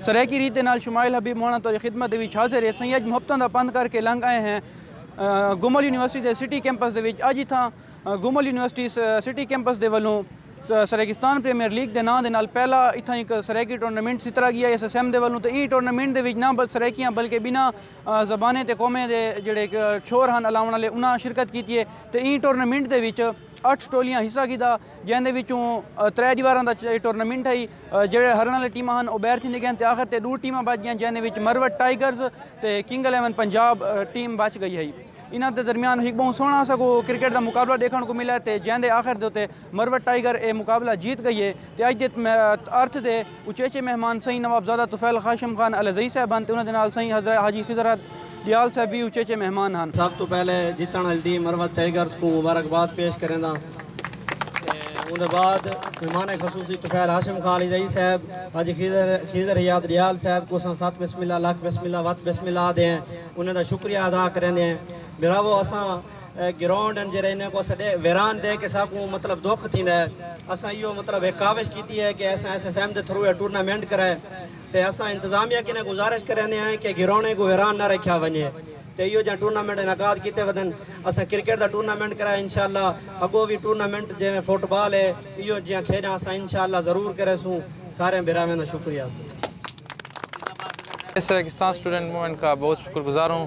سرائیکی ریت دے نال شمائل حبیب مونا توری خدمت دے وچ حاضر ہے سئیں اج محبتاں دا پندھ کر کے لنگ آئے ہیں گومل یونیورسٹی دے سٹی کیمپس دے وچ اج اتھاں گومل یونیورسٹی سٹی کیمپس دے ولوں سرائیکستان پریمیئر لیگ دے ناں دے نال پہلا اتھاں ہک سرائیکی ٹورنامنٹ سیترا گیا ایس ایس ایم دے ولوں تے ایں ٹورنامنٹ دے وچ نہ بس سرائیکیاں بلکہ بناں زبانیں تے قومیں دے جیڑھے چھوہر ہن الاونڑ آلے انہاں شرکت کیتی اے تے ایں ٹورنامنٹ دے وچ اٹھ ٹولیاں حصہ گھدا جیں دے وچوں ترے دیواراں دا ٹورنامنٹ ہئی جیڑھے ہرن آلے ٹیماں ہن او بیر تھیندے گئن تے آخر تے ڈو ٹیماں بچ گیاں جیں دے وچ مروت ٹائیگرز تے کنگ الیون پنجاب ٹیم بچ گئی ہئی انہاں دے درمیان ہک بہوں سوہنڑا سا کو کرکٹ دا مقابلہ ڈیکھنڑ کو ملے تے جیں دے آخر دے اتے مروت ٹائیگر اے مقابلہ جیت گئی اے تے اج دے ارتھ دے اچیچے مہمان سئیں نوابزادہ طفیل خاشم خان الہذئی صاحب ہن تے انہاں دے نال سئیں حضرہ حاجی خضر احد ڈیال صاحب وی اچیچے مہمان ہن۔ سب توں پہلے جیتن آلی ٹیم مروت ٹائیگرز کوں مبارکباد پیش کرینداں تے اوندے بعد مہمان خصوصی طفیل ہاشم خان الہذئی صاحب حاجی خضر حیات ڈیال صاحب کوں اساں ست بسم اللہ لکھ بسم اللہ وت بسم اللہ آہدے ہیں انہاں دا شکریہ ادا کریندے ہیں بھراوو اساں گراؤنڈ ہن جڑے انہیں کو سڈے ویران دے کے ساکوں مطلب دکھ تھیندا ہے اساں ایو مطلب ایک کاوش کیتی ہے کہ اساں ایس ایس ایم دے تھرو ٹورنامنٹ کرائے تے اساں انتظامیہ کنے گزارش کرنے ہیں کہ گراؤنڈ کو ویران نہ رکھیا ونجے تے ایو جہاں ٹورنامنٹ انعقاد کیتے ودن اساں کرکٹ دا ٹورنامنٹ کرائے انشاءاللہ اگو بھی ٹورنامنٹ جے میں فٹ بال ہے ایو جہاں کھیڑاں اساں انشاءاللہ ضرور کرے سوں سارے براویں دا شکریہ اس ریگستان سٹوڈنٹ مومنٹ کا بہت شکر گزار ہوں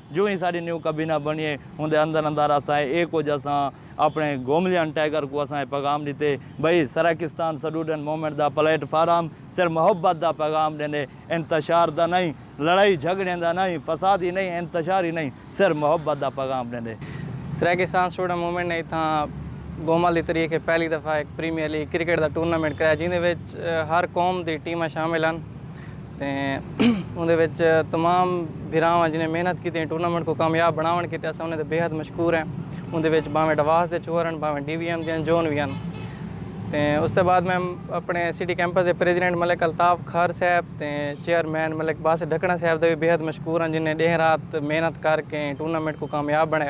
جوں ہی ساڈی نیو کابینہ بنی اے اوندے اندر اندر اساں اے کجھ اساں اپنڑے گوملیان ٹائیگر کوں اساں اے پیغام ڈتے بھئی سرائیکستان سٹوڈنٹ موومنٹ دا پلیٹ فارم صرف محبت دا پیغام ڈیندے انتشار دا نئیں لڑائی جھگڑیں دا نئیں فساد ہی نئیں انتشار ہی نئیں صرف محبت دا پیغام ڈیندے۔ سرائیکستان سٹوڈنٹ موومنٹ نے اتھاں گومل دی تریخ اچ پہلی دفعہ ہک پریمیئر لیگ کرکٹ دا ٹورنامنٹ کرایا جیندے وچ ہر قوم دی ٹیماں شامل ہن تے اوندے وچ تمام بھراواں جنہیں محنت کیتی ٹورنامنٹ کو کامیاب بناون کیتے اساں انہیں تے بیحد مشکور ہیں اوندے وچ باویں ڈواس دے چھوہر ہیں باویں ڈی وی ایم دے ہیں جون وی ہیں تے اس دے بعد میں اپنے سٹی کیمپس دے پریزیڈنٹ ملک الطاف کھر صاحب تے چیئرمین ملک باس ڈھکنا صاحب دے بھی بیحد مشکور ہیں جنہیں ڈیہہ رات محنت کر کے ٹورنامنٹ کو کامیاب بنایا